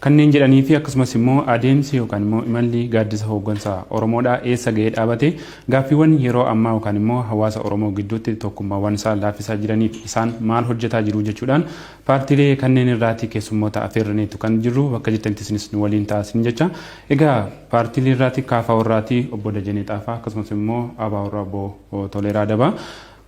Kanneen jedhanii fi akkasumas immoo adeemsi yookaan immoo imalli gaaddisa hooggansa Oromoodhaa eessa gahee dhaabate gaaffiiwwan yeroo ammaa yookaan immoo hawaasa Oromoo gidduutti tokkummaawwan isaa laaffisaa jiraniif isaan maal hojjetaa jiru jechuudhaan paartiilee kanneen irraati keessummoota afeerraneetu kan jirru bakka jirtanitti isinis nu waliin ta'aa isiniin jecha egaa paartiilee irraati KFO irraati obbo Dajanee Xaafaa akkasumas immoo ABO irraa obbo Toleeraa Dabaa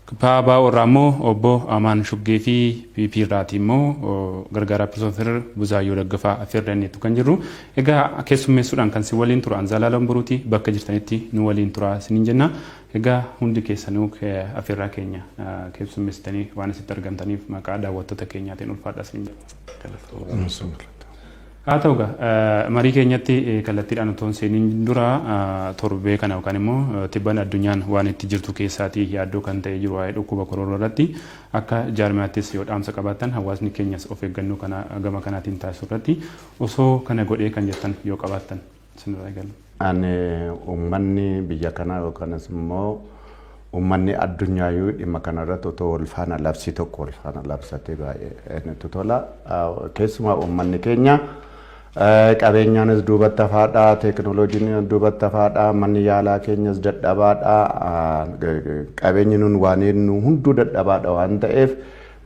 Kpabaa irraa immoo Obbo Amaan Shuggee fi PP irraati immoo gargaaraa Piroofeesar Buzaayyoo Daggafaa affeerra inni jettu kan jirru. Egaa keessummeessuudhaan kan si waliin tura Anzaalaalam Buruuti bakka jirtanitti nu waliin tura isiniin jenna. Egaa hundi keessanuu affeerraa keenya keessummeessitanii waan asitti argamtaniif maqaa daawwattoota keenyaatiin ulfaadha isiniin jenna. Haa ta'u egaa, marii keenyatti kallattiidhaan otoo hin seeniin dura torbee kana yookaan immoo tibbana addunyaan waan itti jirtu keessaatii yaaddoo kan ta'ee jiru waa'ee dhukkuba korooroo irratti akka jaarmiyaattis yoo dhaamsa qabaattan hawaasni keenyas of eeggannoo kana gama kanaatiin taasisu irratti osoo kana godhee kan jettan yoo qabaattan. sinirraa eegalla. Ani uummanni biyya kanaa yookanis immoo uummanni addunyaayuu dhimma kanarratti otoo wal faana labsii tokko wal faana labsatee baay'ee natti tola. Keessumaa uummanni keenya qabeenyaanis duubatti hafaadha, teekinooloojiin duubatti hafaadha, manni yaalaa keenyas dadhabaadha, qabeenyi nun waan eenyu hunduu dadhabaadha waan ta'eef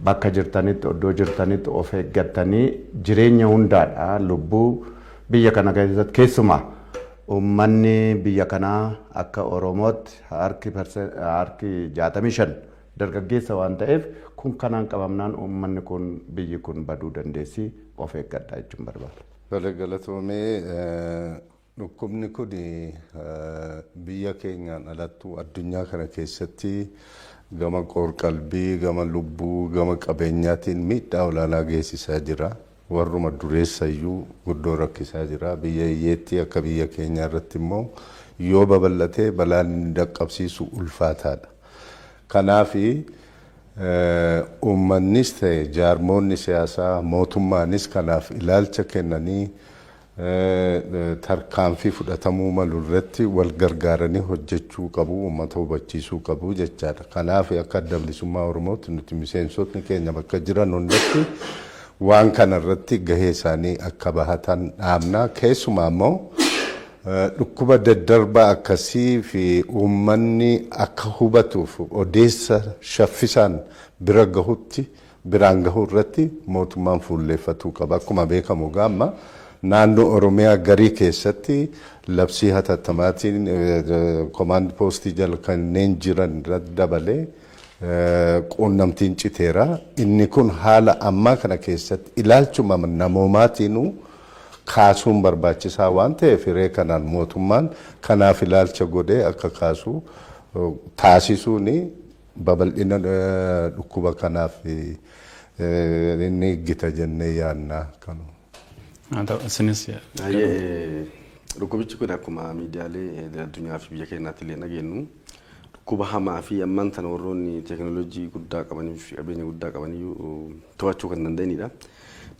bakka jirtanitti oddoo jirtanitti of eeggattanii jireenya hundaadha lubbuu Biyya kana keessatti keessumaa uummanni biyya kanaa akka Oromootti harki harki 65 dargaggeessa waan ta'eef kun kanaan qabamnaan uummanni kun biyyi kun baduu dandeessi of eeggadha jechuun barbaada. Tole galatoomee dhukkubni kun biyya keenyaan alattuu addunyaa kana keessatti gama qoorqalbii, gama lubbuu, gama qabeenyaatiin miidhaa olaanaa geessisaa jira. warruma dureessa iyyuu guddoo rakkisaa jira. Biyya hiyyeettii akka biyya keenyaa irratti immoo yoo babal'ate balaan inni dhaqqabsiisu ulfaataadha. Kanaaf uummannis ta'e jaarmoonni siyaasaa, mootummaanis kanaaf ilaalcha kennanii tarkaanfii fudhatamuu malu irratti wal gargaaranii hojjechuu qabu, uummata hubachiisuu qabu jechaadha. Kanaaf akka Adda Bilisummaa Oromootti nuti miseensotni keenya bakka jiran hundatti waan kana irratti gahee isaanii akka bahatan dhaamna. Keessumaa immoo dhukkuba daddarbaa akkasii fi uummanni akka hubatuuf odeessa shaffisaan bira gahutti biraan gahuu irratti mootummaan fuulleeffatuu qaba. Akkuma beekamu egaa amma naannoo Oromiyaa garii keessatti labsii hatattamaatiin komaand poostii jala kanneen jiran irratti dabalee quunnamtiin citeera. Inni kun haala ammaa kana keessatti ilaalchuma namoomaatiinuu kaasuun barbaachisaa waan ta'eef hiree kanaan mootummaan kanaaf ilaalcha godhee akka kaasu taasisuuni Babal'ina dhukkuba kanaaf ni eeggita jennee yaadna. Haa ta'u isinis Dhukkubichi kun akkuma miidiyaalee addunyaa fi biyya keenyaatti illee dhageenyu dhukkuba hamaa fi ammaan tana warroonni teekinooloojii guddaa qabanii fi qabeenya guddaa qabaniyyuu to'achuu kan danda'anidha.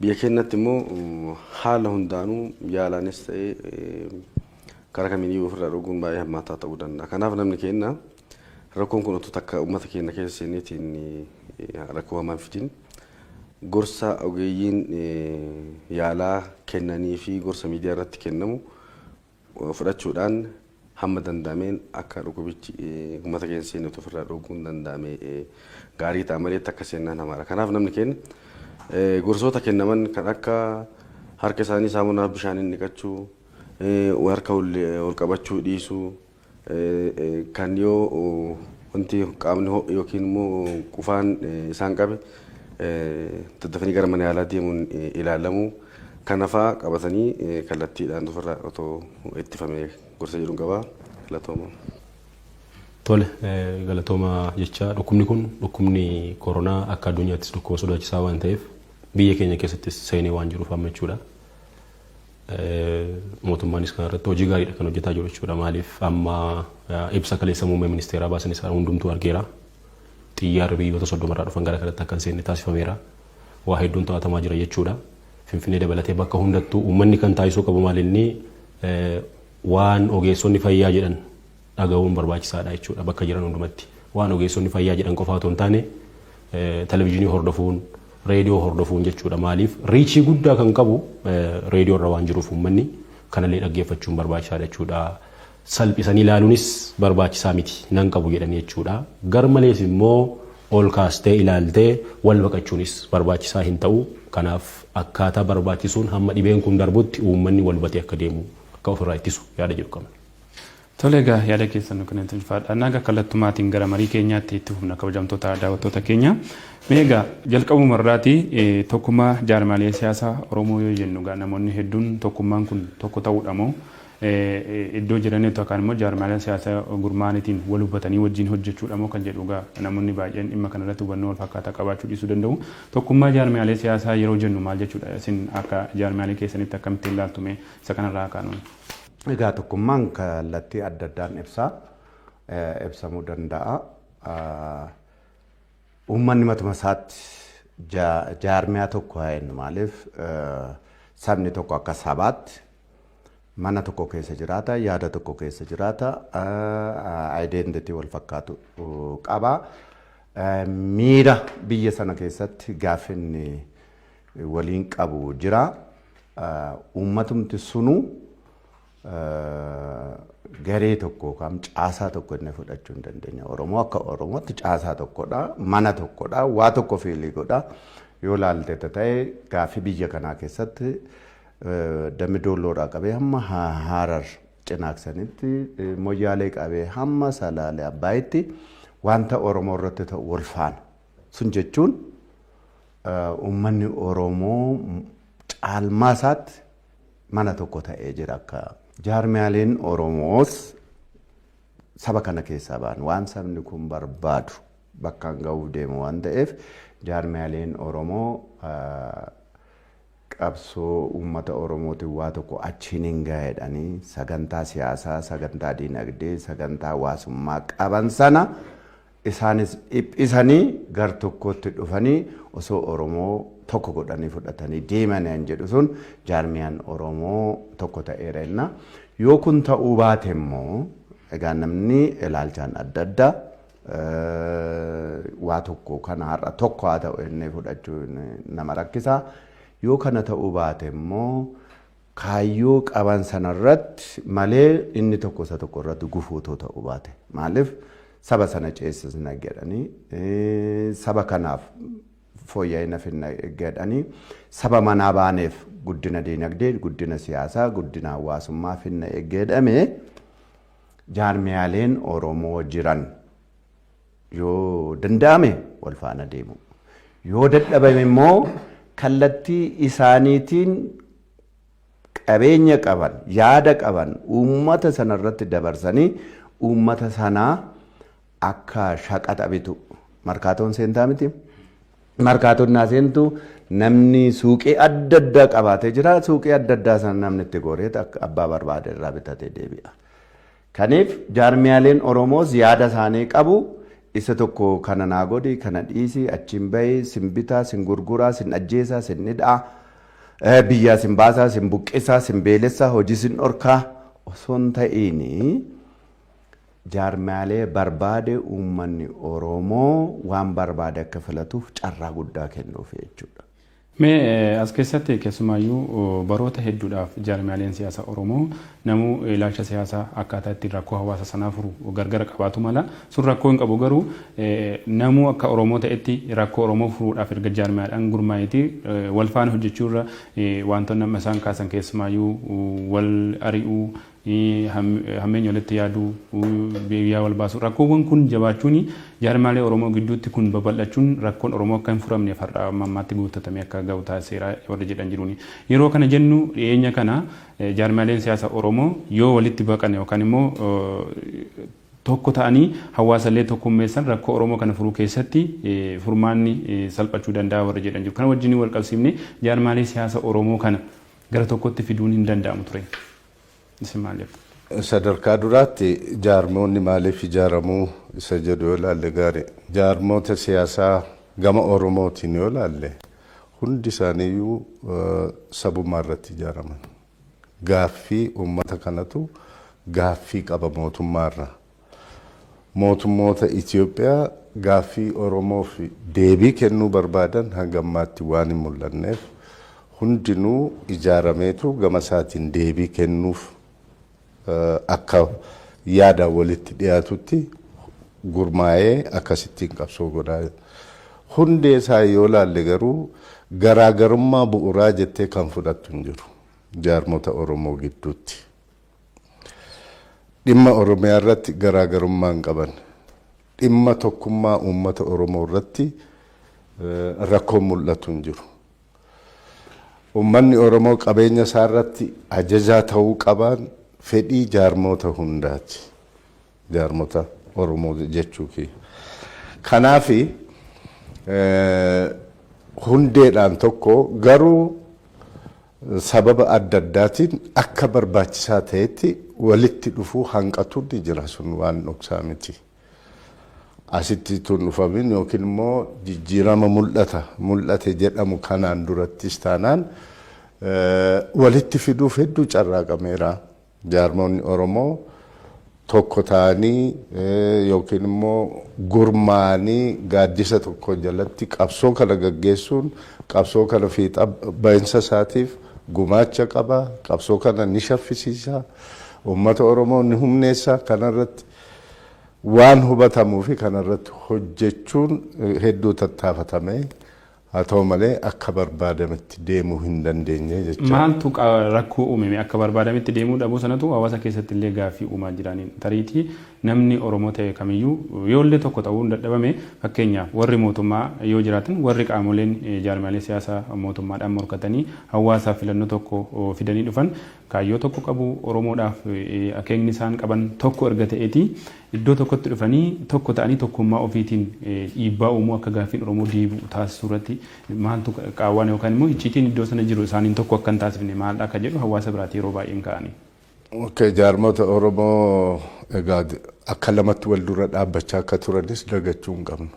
Biyya keenyatti immoo haala hundaanuu yaalaanis ta'ee karaa kamiiniyyuu ofirraa dhoowwuun baay'ee hammaataa ta'uu danda'a. Kanaaf namni keenya Rakkoon kun utuu takka ummata keenna keessa seeneetiin rakkoo hamaa hin fidin. Gorsa ogeeyyiin yaalaa kennanii fi gorsa miidiyaa irratti kennamu fudhachuudhaan hamma danda'ameen akka dhukubichi ummata keenya hin seenne utuu ofirraa dhooguun danda'ame gaarii ta'a malee takka seennaan hamaadha. Kanaaf namni keenya gorsoota kennaman kan akka harka isaanii saamunaa fi bishaaniin dhiqachuu, harka ol qabachuu dhiisuu, Kan yoo wanti qaamni ho'e yookiin immoo qufaan isaan qabe daddafanii gara mana yaalaa deemuun ilaalamu. Kana fa'aa qabatanii kallattiidhaan ofirraa otoo ittifame gorsa jedhuun qaba. Galatooma. Tole galatooma jecha dhukkubni kun dhukkubni koronaa akka addunyaattis dhukkuba sodaachisaa waan ta'eef biyya keenya keessattis seenee waan jiruuf amma jechuudha. Mootummaanis kana irratti hojii gaariidha kan hojjetaa jiru jechuudha. Maaliif amma ibsa kaleessa muummee ministeeraa baasan isaa hundumtuu argeera. Xiyyaarri biyyoota soddomarraa dhufan gara kanatti akka hin seenne taasifameera. Waa hedduun to'atamaa jira jechuudha. Finfinnee dabalatee bakka hundattuu uummanni kan taasisuu qabu maalinni waan ogeessonni fayyaa jedhan dhagahuun barbaachisaadha jechuudha bakka jiran hundumatti. Waan ogeessonni fayyaa jedhan qofaa otoo hin taane televizyiinii hordofuun, reediyoo hordofuun jechuudha. Maaliif riichii guddaa kan qabu reediyoo irra waan jiruuf uummanni kanallee dhaggeeffachuun barbaachisaadha jechuudha. Salphisanii ilaaluunis barbaachisaa miti nan qabu jedhanii jechuudha. Garmalees immoo ol kaastee ilaaltee wal baqachuunis barbaachisaa hin ta'u. Kanaaf akkaataa barbaachisuun hamma dhibeen kun darbutti uummanni wal hubatee akka deemu akka ofirraa ittisu yaada jedhu qabna. Tole egaa yaada keessan nu kennitan ulfaadha. Naga kallattumaatiin gara marii keenyaatti itti fufna kabajamtoota daawwattoota keenya. Mee egaa jalqabuma irraati tokkummaa jaarmaalee siyaasaa Oromoo yoo jennu egaa namoonni hedduun tokkummaan kun tokko ta'uudha moo iddoo jiranitti yookaan immoo jaarmaalee siyaasaa gurmaa'aniitiin wal hubatanii wajjin hojjechuudha moo kan jedhu egaa namoonni baay'een dhimma kanarratti hubannoo wal fakkaataa qabaachuu dhiisuu danda'u. Tokkummaa jaarmaalee siyaasaa yeroo jennu maal jechuudha? Isin akka jaarmaalee keessanitti akkamittiin ilaaltu mee isa kanarraa kaanuun? Egaa tokkummaan kallattii adda addaan ibsaa ibsamuu danda'a. Uummanni matuma isaatti jaarmiyaa tokko haa jennu maaliif sabni tokko akka sabaatti mana tokko keessa jiraata, yaada tokko keessa jiraata, identity wal fakkaatu qaba. Miira biyya sana keessatti gaaffinni waliin qabu jira. Uummatumti sunuu garee tokko yookaan caasaa tokko inni fudhachuu hin dandeenye. Oromoo akka Oromootti caasaa tokkodha, mana tokkodha, waa tokko fiilii godha. Yoo laalte ta'e gaaffii biyya kanaa keessatti dammi doolloorraa qabee hamma haarar cinaaksanitti moyyaalee qabee hamma salaalee abbaayitti wanta Oromoo irratti ta'u wal faana. Sun jechuun uummanni Oromoo caalmaa isaatti mana tokko ta'ee jira akka. Jaarmiyaaleen Oromoos saba kana keessaa ba'an waan sabni kun barbaadu bakkaan ga'uuf deema waan ta'eef jaarmiyaaleen Oromoo qabsoo uummata Oromootiin waa tokko achiin hin gaa'edhanii sagantaa siyaasaa, sagantaa diinagdee, sagantaa hawaasummaa qaban sana Isaanis dhiphisanii gar tokkootti dhufanii osoo Oromoo tokko godhanii fudhatanii deemani an jedhu sun jaarmiyaan Oromoo tokko ta'eera jenna. Yoo kun ta'uu baate immoo egaa namni ilaalchaan adda adda waa tokko kana har'a tokko haa ta'u jennee fudhachuun nama rakkisa. Yoo kana ta'uu baate immoo kaayyoo qaban sana irratti malee inni tokko isa tokko irratti gufuu otoo ta'uu baate maaliif saba sana ceessisna jedhanii saba kanaaf fooyya'ina finna jedhanii saba manaa baaneef guddina diinagdee guddina siyaasaa guddina hawaasummaa finna jedhame jaarmiyaaleen Oromoo jiran Yoo danda'ame wal faana deemuu. Yoo dadhabame immoo kallattii isaaniitiin qabeenya qaban, yaada qaban uummata sana irratti dabarsanii uummata sana akka shaqaxa bitu. Markaatoon seentaa miti. Markaatoon naa seentu namni suuqii adda addaa qabaatee jira. Suuqii adda addaa sana namni itti goree abbaa barbaade irraa bitatee deebi'a. Kaniif jaarmiyaaleen Oromoos yaada isaanii qabu. Isa tokko kana naa godhi, kana dhiisi, achiin bahi, sin bitaa, sin gurguraa, sin ajjeesaa, sin hidhaa, biyyaa sin baasaa, sin buqqisaa, sin beelessaa, hojii sin dhorkaa osoo hin ta'iin jaarmiyaalee barbaade uummanni Oromoo waan barbaade akka filatuuf carraa guddaa kennuufi jechuudha. Mee as keessatti keessumaayyuu baroota hedduudhaaf jaarmiyaaleen siyaasa Oromoo namuu ilaalcha siyaasaa akkaataa ittiin rakkoo hawaasa sanaa furu gargara qabaatu mala. Sun rakkoo hin qabu garuu namuu akka Oromoo ta'etti rakkoo Oromoo furuudhaaf erga jaarmiyaadhaan gurmaa'eeti wal faana hojjechuu irra wantoonni amma isaan kaasan keessumaayyuu wal ari'uu hammeenya walitti yaaduu, biyyaa wal baasuu rakkoowwan kun jabaachuun jaarmaalee Oromoo gidduutti kun babal'achuun rakkoon Oromoo akka hin furamneef har'a amma ammaatti guuttatamee akka ga'u taasiseera warri jedhan jiru. Yeroo kana jennu dhiyeenya kana jaarmaaleen siyaasa Oromoo yoo walitti baqan yookaan immoo tokko ta'anii hawaasa illee tokkummeessan rakkoo Oromoo kana furuu keessatti furmaanni salphachuu danda'a warri jedhan jiru. Kana wajjin wal qabsiifnee jaarmaalee siyaasa Oromoo kana gara tokkotti fiduun hin danda'amu ture. Isin maal jettu? Sadarkaa duraatti jaarmoonni maaliif ijaaramuu isa jedhu yoo ilaalle gaari. Jaarmoota siyaasaa gama Oromootiin yoo ilaalle hundi isaaniiyyuu sabummaa irratti ijaaraman. Gaaffii uummata kanatu gaaffii qaba mootummaa irraa. Mootummoota Itiyoophiyaa gaaffii Oromoof deebii kennuu barbaadan hanga ammaatti waan hin mul'anneef hundinuu ijaarameetu gama isaatiin deebii kennuuf akka yaadaan walitti dhiyaatutti gurmaa'ee akkasittiin qabsoo godhaa jira. Hundee isaa yoo ilaalle garuu garaagarummaa bu'uraa jettee kan fudhattu hin jiru jaarmota Oromoo gidduutti. Dhimma Oromiyaa irratti garaagarummaa hin qaban. Dhimma tokkummaa uummata Oromoo irratti rakkoon mul'atu hin jiru. Uummanni Oromoo qabeenya isaa irratti ajajaa ta'uu qabaan fedhii jaarmoota hundaati. Jaarmota Oromoo jechuu kiyya. Kanaaf hundeedhaan tokko garuu sababa adda addaatiin akka barbaachisaa ta'etti walitti dhufuu hanqatuun ni jira sun waan dhoksaa miti. Asitti utuu hin dhufamin yookiin immoo jijjiirama mul'ata mul'ate jedhamu kanaan durattis taanaan walitti fiduuf hedduu carraaqameera. Jaarmoonni Oromoo tokko ta'anii yookiin immoo gurmaa'anii gaaddisa tokko jalatti qabsoo kana gaggeessuun qabsoo kana fiixa bahinsa isaatiif gumaacha qaba. Qabsoo kana ni shaffisiisa. Uummata Oromoo ni humneessa. Kanarratti waan hubatamuu fi kanarratti hojjechuun hedduu tattaafatamee Haa ta'u malee akka barbaadametti deemuu hin dandeenye jecha. Maaltu rakkoo uume mee? Akka barbaadametti deemuu dhabuu sanatu hawaasa keessatti illee gaaffii uumaa jira. Tariitii namni Oromoo ta'e kamiyyuu yoo illee tokko ta'uun dadhabame fakkeenyaaf warri mootummaa yoo jiraatan warri qaamoleen jaarmiyaalee siyaasa mootummaadhaan morkatanii hawaasaaf filannoo tokko fidanii dhufan kaayyoo tokko qabu. Oromoodhaaf akeekni isaan qaban tokko erga ta'eeti Iddoo tokkotti dhufanii tokko ta'anii tokkummaa ofiitiin dhiibbaa uumuu akka gaaffiin Oromoo deebi'u taasisuu irratti maaltu qaawwaan yookaan immoo icciitiin iddoo sana jiru isaaniin tokko akka hin taasifne maaldha akka jedhu hawaasa biraati yeroo baay'ee hin kaa'anii. Okay, jaarmota Oromoo egaa akka lamatti wal dura dhaabbachaa akka turanis dagachuu hin qabnu.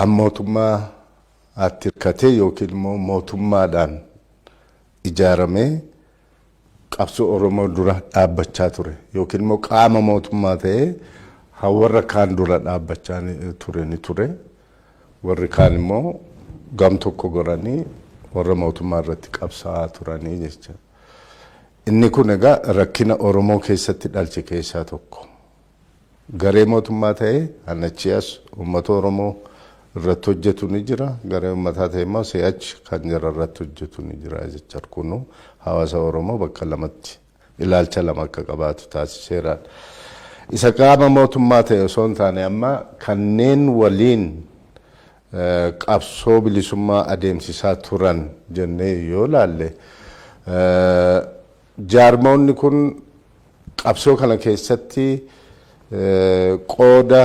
An mootummaa atti hirkatee yookiin immoo mootummaadhaan ijaaramee qabsoo Oromoo dura dhaabbachaa ture yookiin immoo qaama mootummaa ta'ee ha warra kaan dura dhaabbachaa ture ni ture. Warri kaan immoo gam tokko goranii warra mootummaa irratti qabsaa'aa turanii jecha. Inni kun egaa rakkina Oromoo keessatti dhalche keessaa tokko. Garee mootummaa ta'ee kan achii as uummata Oromoo irratti hojjetu ni jira. Garee uummataa ta'ee immoo si'achi kan jara irratti hojjetu ni jira jechuudha. Kunuu hawaasa Oromoo bakka lamatti ilaalcha lama akka qabaatu taasiseera. Isa qaama mootummaa ta'e osoo hin taane amma kanneen waliin qabsoo bilisummaa adeemsisaa turan jennee yoo ilaalle Jaarmoonni kun qabsoo kana keessatti qooda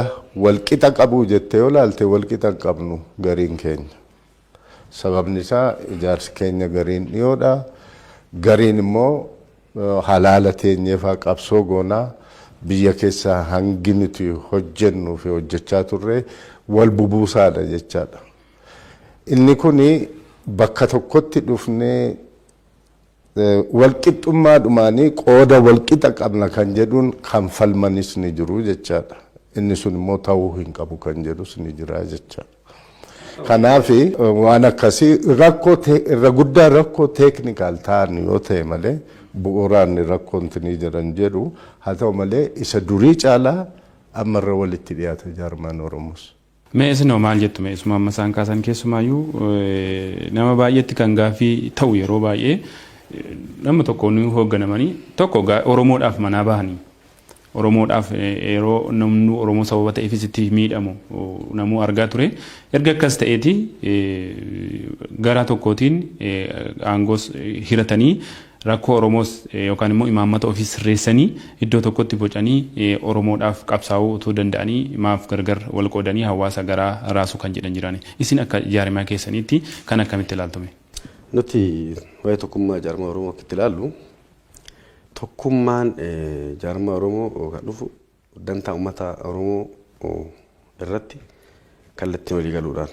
walqixa qabuu jettee yoo ilaalte walqixa hin qabnu gariin keenya. Sababni isaa ijaarsi keenya gariin dhiyoodha. Gariin immoo halaala teenyeefaa qabsoo goonaa biyya keessa hangi nuti hojjennuu fi hojjechaa turre wal bubuusaadha jechaadha. Inni kun bakka tokkotti dhufnee Walqixxummaadhumaan qooda walqixa qabna kan jedhuun kan falmanis ni jiru jechaadha. Inni sun immoo ta'uu hin qabu kan jedhus ni jira jechaadha. Kanaaf waan akkasii rakkoo irra guddaa rakkoo teeknikaal ta'an yoo ta'e malee bu'uuraan rakkoon ni jira hin jedhu. Haa ta'u malee isa durii caalaa amma irra walitti dhiyaata jaarmaan Oromoos. Mee isin hoo maal jettu mee isuma amma isaan kaasan keessumaayyuu nama baay'eetti kan gaaffii ta'u yeroo baay'ee nama tokko nu hoogganamanii tokko Oromoodhaaf manaa bahanii Oromoodhaaf yeroo namni Oromoo sababa ta'eefis itti miidhamu namuu argaa ture erga akkas ta'eeti garaa tokkootiin aangoos hiratanii Rakkoo Oromoos yookaan immoo imaammata ofii sirreessanii iddoo tokkotti bocanii Oromoodhaaf qabsaa'uu utuu danda'anii maaf gargar wal qoodanii hawaasa garaa raasu kan jedhan jiraani. Isin akka jaarmiyaa keessaniitti kana akkamitti ilaaltu mee? Nuti waa'ee tokkummaa jaarmaa Oromoo akka itti ilaallu tokkummaan jaarmaa Oromoo kan dhufu dantaa ummata Oromoo irratti kallattiin walii galuudhaan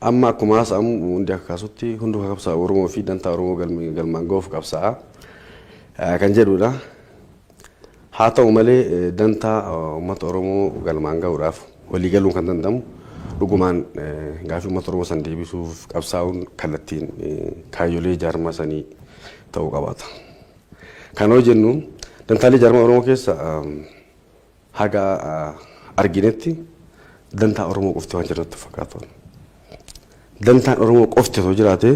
amma akkuma haasa'amu hundi akka kaasutti hunduu qabsaa'u Oromoo fi dantaa Oromoo galmaan ga'uuf qabsaa'a kan jedhudha. Haa ta'u malee dantaa uummata Oromoo galmaan ga'uudhaaf walii galuun kan danda'amu dhugumaan gaaffii uummata Oromoo san deebisuuf qabsaa'uun kallattiin kaayyolee jaarmaa sanii ta'uu qabaata. Kan yoo jennu dantaalee jaarmaa Oromoo keessa haga arginetti dantaa Oromoo qofti waan jiratu fakkaatu. Dantaan Oromoo qofti osoo jiraatee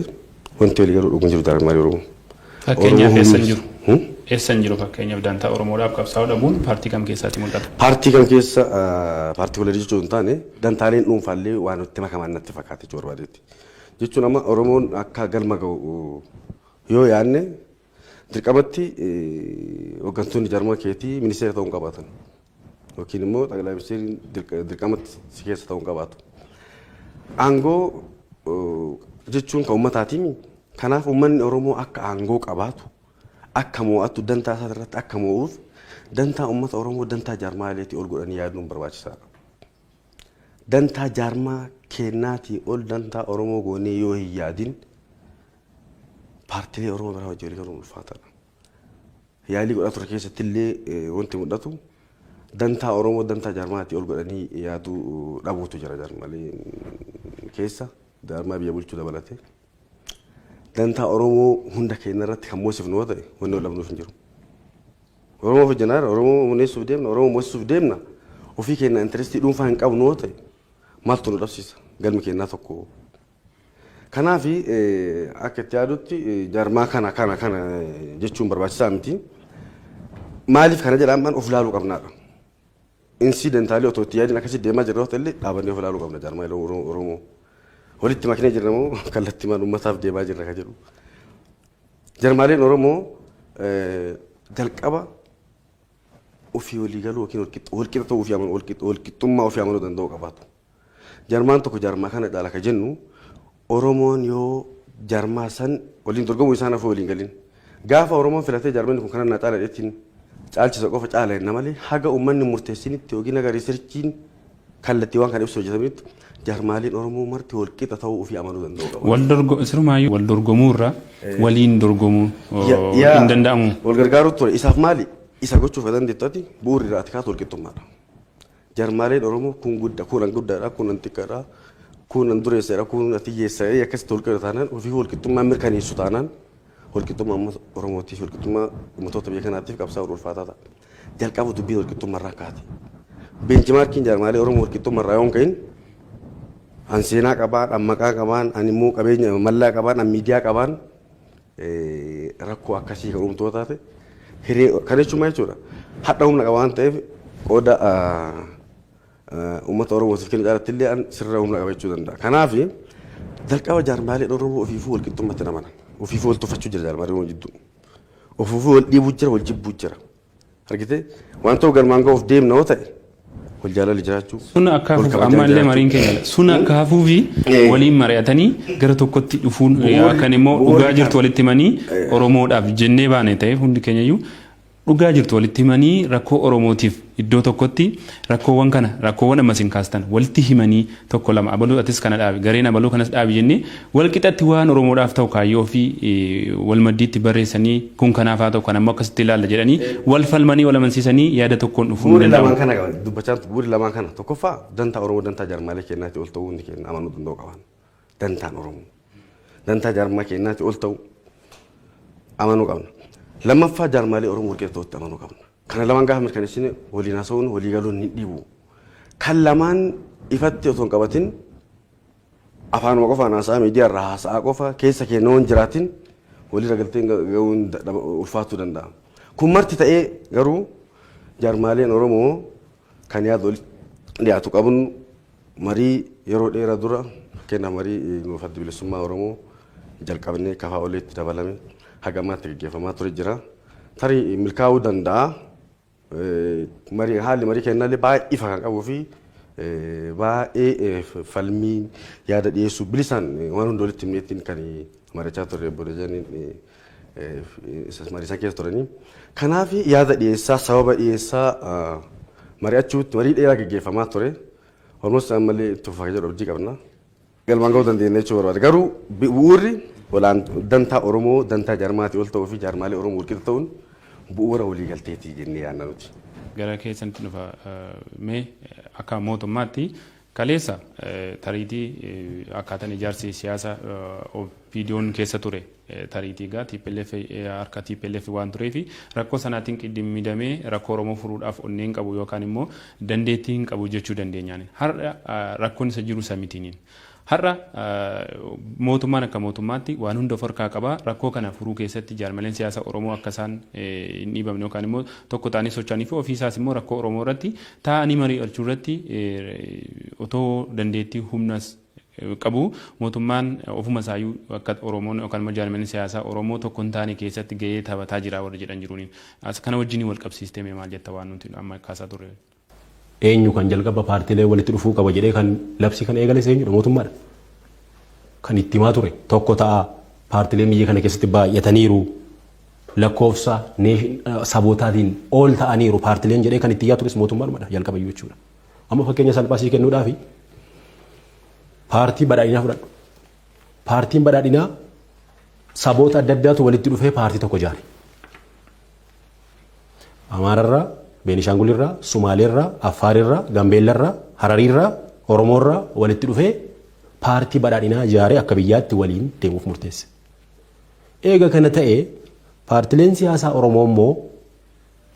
wanti walii galuu dhuguun jiru jaarmaalee Oromoo. Fakkeenyaaf Oromoo eessan hundi- jiru? Hmm? Eessan jiru fakkeenyaaf dantaa Oromoodhaaf qabsaa'uu dhabuun paartii kam keessaatti mul'ata? Paartii kan keessa paartikulari jechuun hin taane dantaaleen dhuunfaallee waan itti makaman natti fakkaate jechuu barbaadeetti. Jechuun amma Oromoon akka galma ga'u Yoo yaadne dirqamatti hoggantoonni jarma keetii ministeera ta'uu hin qabaatan. Yookiin immoo xaqilaa ministeeriin dirqamatti si keessa ta'uu hin qabaatu. Aangoo jechuun kan uummataatiimi. Kanaaf uummanni Oromoo akka aangoo qabaatu, akka moo'atu, dantaa isaa irratti akka moo'uuf dantaa uummata Oromoo dantaa jaarmaa ileetii ol godhanii yaaduun barbaachisaadha. Dantaa jaarmaa kennaatii ol dantaa Oromoo goonee yoo hin yaadin Paartilee Oromoo biraa wajjin waliigaluun ulfaataadha. Yaalii godhaa ture keessatti illee wanti mul'atu dantaa Oromoo dantaa jaarmaatti ol godhanii yaaduu dhabuutu jira jaarmalee keessa jaarmaa biyya bulchuu dabalatee. Dantaa Oromoo hunda keenya irratti kan moosifnu yoo ta'e wanni ol dhabnuuf hin jiru. Oromoo hojjennaa irra Oromoo muneessuuf deemna Oromoo moosisuuf deemna ofii keenya intirestii dhuunfaa hin qabnu yoo ta'e maaltu nu dhabsiisa galmi keenyaa tokko Kanaaf akka itti yaadutti jaarmaa kana kana kana jechuun barbaachisaa miti. Maaliif kana jedha ammaan of ilaaluu qabnaadha. Insidentaalii otoo itti yaadiin akkasitti deemaa jirra yoo ta'ellee dhaabannee of ilaaluu qabna jaarmaa Oromoo. Walitti maknee jirra moo kallattii maal uummataaf deemaa jirra kan jedhu. Jarmaaleen Oromoo jalqaba ofii walii galuu yookiin walqixa ta'uu ofii amanuu walqixxummaa ofii amanuu danda'uu qabaatu. Jarmaan tokko jarmaa kana dhaala ka jennu Oromoon yoo jarmaa san waliin dorgomuu isaan hafuu waliin galin. Gaafa Oromoon filatee jarmanni kun kana naa caala jedheetiin caalchisa qofa caala jenna malee haga uummanni murteessinitti yookiin haga riisirchiin kallattii waan kana ibsu hojjetaminitti jarmaaliin Oromoo marti wal qixa ta'uu ofii amanuu danda'uu qaba. Wal dorgo sirumaayyuu wal dorgomuu irra waliin dorgomuu hin danda'amu. Wal gargaaruu ture isaaf maali isa gochuuf ka dandeettu ati bu'uurri irraa ati kaatu wal qixxummaadha. Jarmaaleen Oromoo kun gudda, kun an guddadha, kun an xiqqadha, kun an dureessadha, kun ati hiyyeessa jedhee akkasitti wal qira taanaan ofiifuu wal qixxummaa mirkaneessu taanaan wal qixxummaa uummata Oromootiif, wal qixxummaa ummatoota biyya kanaatiif qabsaa'uun ulfaataa ta'a. Jalqaba dubbiin wal qixxummarraa kaate. Beenchimaarkiin jaarmaalee Oromoo wal qixxummarraa yoo hin ka'in an seenaa qabaan, an maqaa qabaan, an immoo qabeenya mallaa qabaan, an miidiyaa qabaan rakkoo akkasii kan uumtu yoo taate hiree kana jechuun maal jechuudha hadha humna qaba waan ta'eef qooda uummata Oromootiif kennu caalatti illee an sirra humna qaba jechuu danda'a. Kanaaf jalqaba jaarmaaleen Oromoo ofiifuu wal qixxummaatti hin amanan. Ofiifuu wal tuffachuu jira jaarmaalee Oromoo jidduu. Ofiifuu wal dhiibuu jira wal jibbuu jira. Argitee waan ta'u galmaan ga'uuf deemna yoo ta'e wal jaalalli jiraachuu. Sun akka wal hafuuf kabajaan amma illee jiraachuu. mariin keenya dha. Sun akka hafuu fi Eh. waliin mari'atanii gara tokkotti dhufuun eh, Bu'uurri- akkan immoo bu'uurri dhugaa kan- jirtu walitti himanii Eh. Oromoodhaaf jennee baane ta'e hundi keenya iyyuu dhugaa jirtu walitti himanii rakkoo Oromootiif iddoo tokkotti rakkoowwan kana rakkoowwan ammas hin kaastan walitti himanii tokko lama abaluu atis kana dhaabi gareen abaluu kanas dhaabi jennee wal qixatti waan oromoodhaaf ta'u kaayyoo ofii wal maddiitti barreessanii kun kanaaf haa ta'u kan ammoo akkasitti ilaalla jedhanii wal falmanii wal amansiisanii yaada tokkoon dhufuu hin Bu'uurri lamaan danda'amu. kana dubbachaa jirtu bu'uurri lamaan kana tokkoffaa dantaa Oromoo dantaa jaarmaalee keenyaatti ol ta'uu hundi keenya amanuu danda'u qaban. Dantaan Oromoo dantaa jaarmaa keenyaatti ol ta'uu amanuu qabna. Lammaffaa jaarmaalee Oromoo warqeettootti amanuu qabna. Kana lamaan gaafa mirkaneessine waliin haasa'uun walii galuun hin dhibu. Kan lamaan ifatti otoo hin qabatin afaanuma qofaan haasa'aa miidiyaa irraa haasa'aa qofa keessa keenya waan jiraatin waliirra galteen ga'uun ulfaatuu danda'a. Kun marti ta'ee garuu jaarmaaleen Oromoo kan yaada walitti dhiyaatu qabnu Marii yeroo dheera dura fakkeenyaaf marii nuuf Addi Bilisummaa Oromoo jalqabnee kafaa oliitti dabalame haga ammaatti gaggeeffamaa ture jira. Tarii milkaa'uu danda'a. Marii haalli marii kennallee baay'ee ifa kan qabuu fi baay'ee falmii yaada dhiyeessuu bilisaan waan hunda walitti himneettiin kan mari'achaa turre obbo Dajaniin mariisaa keessa turanii. Kanaaf yaada dhiyeessaa, sababa dhiyeessaa mari'achuutti marii dheeraa gaggeeffamaa ture. Almost ammallee itti fufaa jedhu abdii qabna. Galmaan ga'uu dandeenya jechuu barbaada. Garuu bu'uurri olaan dantaa Oromoo dantaa jaarmaatii ol ta'uu fi jaarmaalee Oromoo walqixa ta'uun bu'uura waliigalteeti jennee yaadna nuti. Gara keessanitti dhufa. Mee akka mootummaatti Kaleessa tariitii akkaataan ijaarsi siyaasa OPDOn keessa ture tariitii egaa tplf harka tplf waan tureefi rakkoo sanaatiin qiddimmidamee rakkoo Oromoo furuudhaaf onnee hin qabu yookaan immoo dandeettii hin qabu jechuu dandeenyaaniin. Har'a rakkoon isa jiru isa mitiiniin. Har'a mootummaan akka mootummaatti waan hunda of harkaa qaba. Rakkoo kana furuu keessatti jaarmaleen siyaasa Oromoo akka isaan hin dhiibamne yookaan immoo tokko ta'anii socho'anii fi ofii isaas immoo rakkoo Oromoo irratti Taa'anii marii'achuu irratti otoo dandeettii humnas qabu mootummaan ofuma isaayyuu akka Oromoon yookaan immoo jaarmiyaaleen siyaasaa Oromoo tokko hin taane keessatti gahee taphataa jira warri jedhan jiruuni. As kana wajjiniin wal qabsiistee mee maal jetta waan nuti amma kaasaa turre wajjin? Eenyu kan jalqaba paartiilee walitti dhufuu qaba jedhee kan labsii kana eegales eenyudha? Mootummaadha. Kan itti himaa ture tokko ta'aa paartiileen biyya kana keessatti baay'ataniiru lakkoofsa sabootaatiin ol ta'aniiru paartileen jedhee kan itti iyyaa tures mootummaadhumadha jalqaba iyyuu jechuudha. Amma fakkeenya salphaa sii kennuudhaaf paartii badhaadhinaa fudhadhu. Paartiin badhaadhinaa saboota adda addaatu walitti dhufee paartii tokko ijaare. Amaararraa, Beenishaangulirraa, Sumaaleerraa, Affaarirraa, Gambeellarraa, Harariirraa, Oromoorraa walitti dhufee paartii badhaadhinaa ijaaree akka biyyaatti waliin deemuuf murteesse. Eega kana ta'e paartileen siyaasaa Oromoo immoo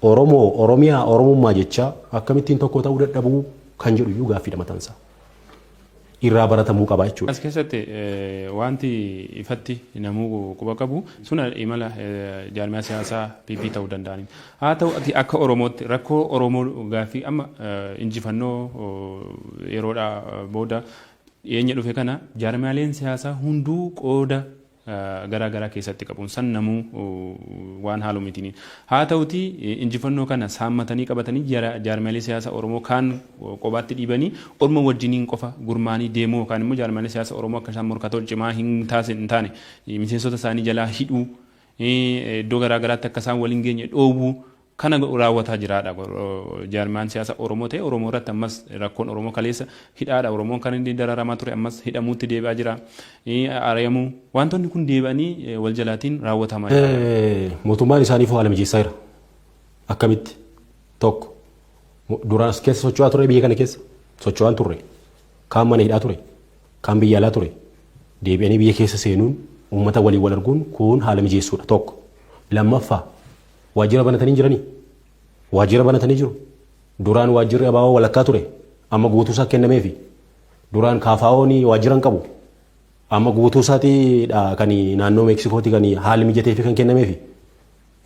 Oromoo, Oromiyaa, Oromummaa jechaa akkamittiin tokko ta'uu dadhabuu kan jedhu iyyuu gaaffiidha matansaa. Irraa baratamuu qaba jechuudha. As keessatti wanti ifatti namuu quba qabu sun imala jaarmiyaa siyaasaa PP ta'uu danda'aniin. Haa ta'u ati akka Oromootti rakkoo Oromoo gaaffii amma injifannoo yeroodhaa booda dhiyeenya dhufe kana jaarmiyaaleen siyaasaa hunduu qooda garaa garaa keessatti qabuun san namuu waan haalu miti. Haa ta'utii injifannoo kana saammatanii qabatanii jaarmiyaalee siyaasa Oromoo kaan qobaatti dhiibanii orma wajjiniin qofa gurmaanii deemuu yookaan immoo jaarmiyaalee siyaasa Oromoo akka isaan morkatool cimaa hin taane miseensota isaanii jalaa hidhuu iddoo garaa garaatti akka isaan wal hin geenye dhoowwuu Kana raawwataa jiraadha jaarmayaan siyaasa Oromoo ta'e Oromoo irratti ammas rakkoon Oromoo kaleessa hidhaadha Oromoon kan inni dararamaa ture ammas hidhamuutti deebi'aa jira ari'amuu wantoonni kun deebi'anii wal jalaatiin raawwatamaa jira. Mootummaan isaaniif haala mijeessaa jira. Akkamitti? Tokko duraan as keessa socho'aa ture biyya kana keessa socho'aan turre kaan mana hidhaa ture kaan biyya alaa ture deebi'anii biyya keessa seenuun uummata waliin wal arguun kun haala mijeessuudha tokko lammaffaa Waajjira banatanii jiranii? Waajjira banatanii jiru. Duraan waajjirri abaawoo walakkaa ture. Amma guutuusaa kennameefi. Duraan kaafaa'oon waajjira hin qabu. Amma guutuusaatiidha kan naannoo Meeksikooti kan haalli mijateefi kan kennameefi.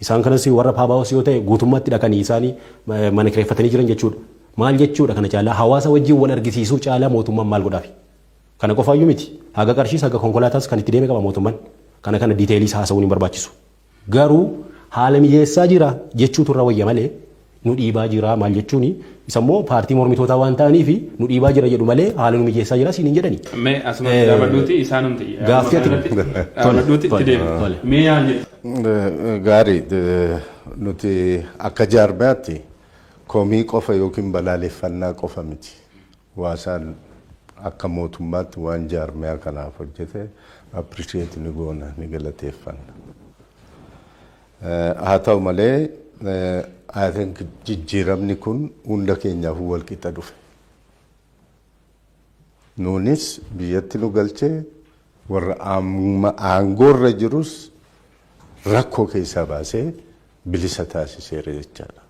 Isaan kanas warra paabaawos yoo ta'e guutummaattidha kan isaan mana kireeffatanii jiran jechuudha. Maal jechuudha kana caalaa hawaasa wajjin wal argisiisuu caalaa mootummaan maal godhaafi? Kana qofaayyuu miti. Haga qarshiis haga konkolaataas kan itti deeme qaba mootummaan. Kana kana diiteeliis haasa'uun hin barbaachisu. Garuu haala mijeessaa jira jechuutu irra wayya malee nu dhiibaa jira maal jechuuni isa immoo paartii mormitootaa waan ta'aniifi nu dhiibaa jira jedhu malee haala nu mijeessaa jira siin hin jedhani. Mee asumatti dhaabadhuuti isaanumti yaaduma Gaaffii ati kanarratti tole dhaabadhuuti itti tole deema. tole. Mee yaal jedhu. Gaarii nuti akka jaarmayaatti komii qofa yookiin balaaleffannaa qofa miti. Hwaasaan akka mootummaatti waan jaarmiyaa kanaaf hojjete appreciate ni goona, ni galateeffanna. Haa ta'u malee I think jijjiiramni kun hunda keenyaafuu wal qixa dhufe. Nuunis biyyatti nu galche warra amma aangoorra jirus rakkoo keessaa baasee bilisa taasiseera jechaadha.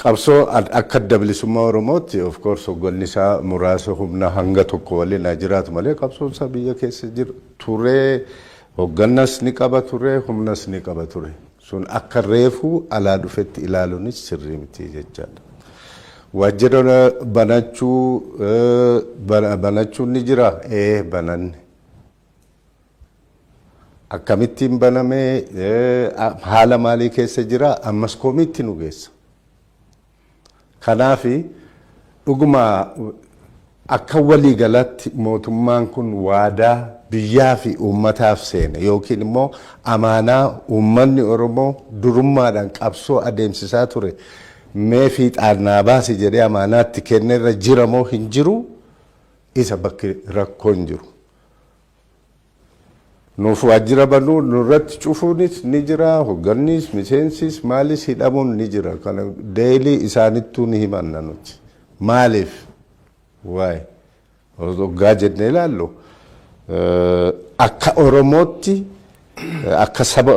Qabsoo akka adda bilisummaa Oromootti of course hogganni isaa muraasa humna hanga tokko waliin haa jiraatu malee qabsoon isaa biyya keessa jira ture hoggannas ni qaba ture humnas ni qaba ture sun akka reefuu alaa dhufetti ilaaluunis sirrii miti jechaadha. Waajjira banachuu banachuun ni jira ee bananne Akkamittiin baname, haala maalii keessa jira, ammas komiitti nu geessa. Kanaaf dhuguma akka walii galaatti mootummaan kun waadaa biyyaa fi uummataaf seene yookiin immoo amaanaa uummanni Oromoo durummaadhaan qabsoo adeemsisaa ture mee fiixaan naa baasi jedhee amaanaatti kennerra jira moo hin jiru isa bakki rakkoon jiru. Nuuf waajjira banuu nurratti cufuunis ni jira, hogganniis, miseensis, maalis hidhamuun ni jira. Kana deelii isaanittuu ni himanna nuti. Maaliif? Waay. Hoggaa jennee ilaallu akka Oromootti akka saba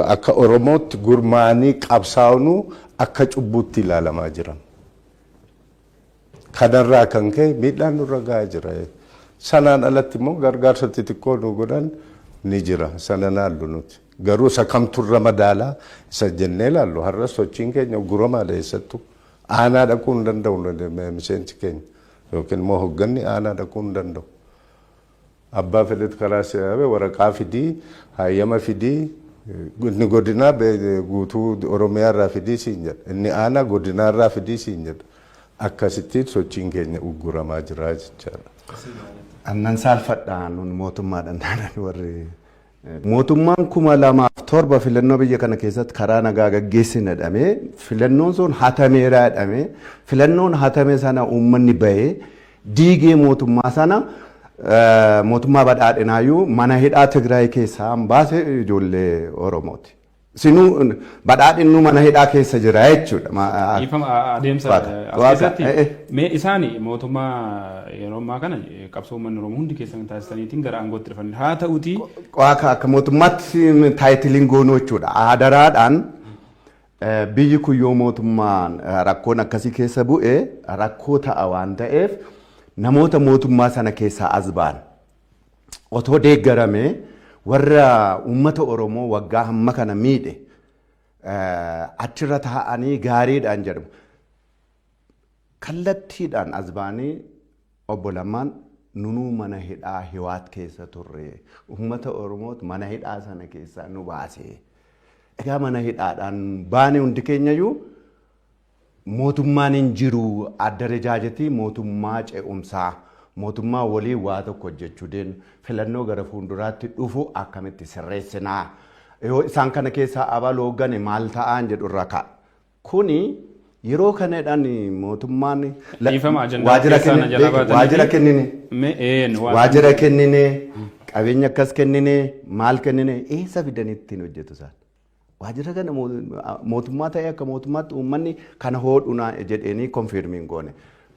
akka Oromootti gurmaa'anii qabsaa'unuu akka cubbuutti ilaalamaa jiran. Kanarraa kan ka'e miidhaan nurra gahaa jira. Sanaan alatti immoo gargaarsa xixiqqoo nu godhan ni jira. Sana naallu nuti. Garuu isa kamtu irra madaala isa jennee ilaallu. Har'a sochiin keenya ugguramaadha eessattu. Aanaa dhaquu hin danda'u miseensi keenya yookiin immoo hogganni aanaa dhaquu hin danda'u. Abbaa fedhet karaa seeae waraqaa fidii haayyama fidii inni godinaa guutuu oromiyaa irraa fidii siin jedha inni aanaa godinaa irraa fidii siin jedha akkasittiin sochiin keenya ugguramaa jira jechaadha. Annan saalfadha nun mootummaadha naanan warri Mootummaan 2007 filannoo biyya kana keessatti karaa nagaa gaggeessina jedhamee filannoon sun hatameera jedhamee filannoon hatame sana uummanni bahee diigee mootummaa sana mootummaa badhaadhinaayyuu mana hidhaa Tigraay keessaa baase ijoollee Oromooti. Sinu badhaadhin nu mana hidhaa keessa jira jechuudha. Ma- a- Dhiifama a- adeemsa Waaqa. eh, as Waaqa. keessatti Eh, eh. mee isaani mootummaa yeroo ammaa kana eh, qabsoo uummanni Oromoo hundi keessan taasisaniitiin gara aangootti dhufan haa ta'uti Waaqa akka mootummaatti taayitiliin goonuu jechuudha. Adaraadhaan eh, biyyi kun yoo mootummaan eh, rakkoon akkasii keessa bu'e rakkoo ta'a waan ta'eef namoota mootummaa sana keessaa as ba'an otoo deeggarame warra uummata Oromoo waggaa hamma kana miidhe achirra taa'anii gaariidhaan jedhamu. Kallattiidhaan as baanii obbo Lammaan nunuu mana hidhaa hiwaat keessa turre uummata Oromoot mana hidhaa sana keessaa nu baase. Egaa mana hidhaadhaan baane hundi keenyayyuu Mootummaan hin jiru, addarejaajeti mootummaa ce'umsaa, mootummaa waliin waa tokko hojjechuu deemnu, filannoo gara fuunduraatti dhufu akkamitti sirreessina? Yoo isaan kana keessaa abalu hooggane maal ta'aan jedhu irra ka'a. Kuni yeroo kanadhaan mootummaan Dhiifama ajandaa waajjira keessaa na jalaa kennine, baatanii waajjira fi- kennine, Mee een waan- waajjira kennine, qabeenya akkas kennine, maal kennine, eessa fidanii ittiin hojjetu isaan? Waajjira kana mootummaa ta'ee akka mootummaatti uummanni kana hoodhuna jedheenii konfiirmii hin goone.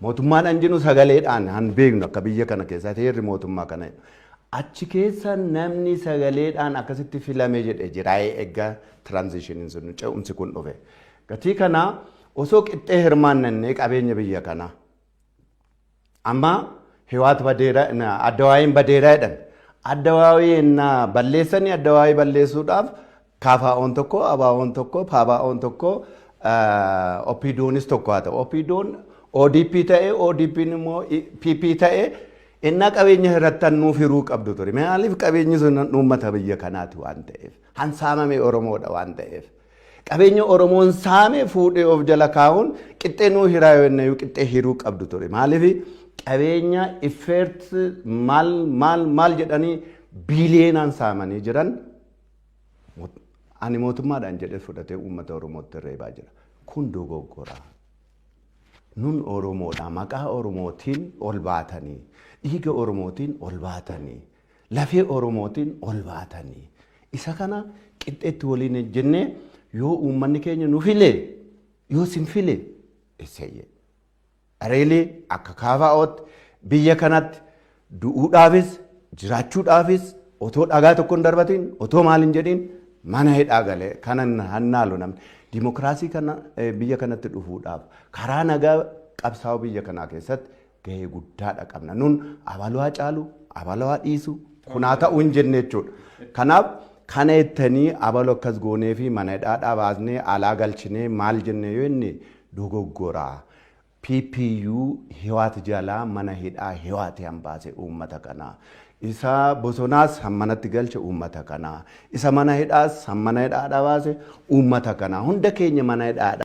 Mootummaan an jennu sagaleedhaan han beeknu akka biyya kana keessatti heerri mootummaa kana. Achi keessa namni sagaleedhaan akkasitti filame jedhe jiraa'ee egaa tiraanzishiniin sun ce'umsi kun dhufe. Gatii kana osoo qixxee hirmaannannee qabeenya biyya kanaa Amma Hiwaat badeera Addawaayiin badeera jedhan. Addawaawii ennaa balleessanii addawaawii balleessuudhaaf kaafaa'oon tokko, abaawoon tokko, paabaa'oon tokko, OPDOnis tokko haa ta'u. OPDOn ODP ta'e, ODPn immoo PP ta'e ennaa qabeenya hirattan nuuf hiruu qabdu ture. Maaliif qabeenyi sun uummata biyya kanaati waan ta'eef. Hansaamame Oromoodha waan ta'eef. Qabeenya Oromoon saame fuudhee of jala kaa'uun qixxee nuu hiraa yoo jenna iyyuu qixxee hiruu qabdu ture. Maaliif qabeenya effeert maal maal maal jedhanii biiliyeenaan saamanii jiran ani mootummaadhaan jedhee fudhatee uummata Oromootti reebaa jira. Kun dogoggora. Nun Oromoodha maqaa Oromootiin ol baatanii dhiiga Oromootiin ol baatanii lafee Oromootiin ol baatanii isa kana qixxeetti waliin ejjennee yoo uummanni keenya nu filee yoo sin file isayye areelee akka kaafaa'ootti biyya kanatti du'uudhaafis jiraachuudhaafis otoo dhagaa tokko hin darbatiin otoo maal hin jedhiin mana hidhaa galee kanan hannaalu namni dimokiraasii kana biyya kanatti dhufuudhaaf karaa nagaa qabsaa'u biyya kanaa keessatti gahee guddaadha qabna. Nun abaluu haa caalu, abaluu haa dhiisu, kun haa ta'u hin jenne jechuudha. Kanaaf kana jettanii abalu akkas goonee fi mana hidhaadhaa baasnee alaa galchinee maal jenne yoo inni dogoggora. PPU hiwaat jalaa mana hidhaa hiwaati hambaase uummata kana. Isa bosonaas hammanatti galche uummata kana. Isa mana hidhaas hammana hidhaadhaa baase uummata kana. Hunda keenya mana hidhaadhaa.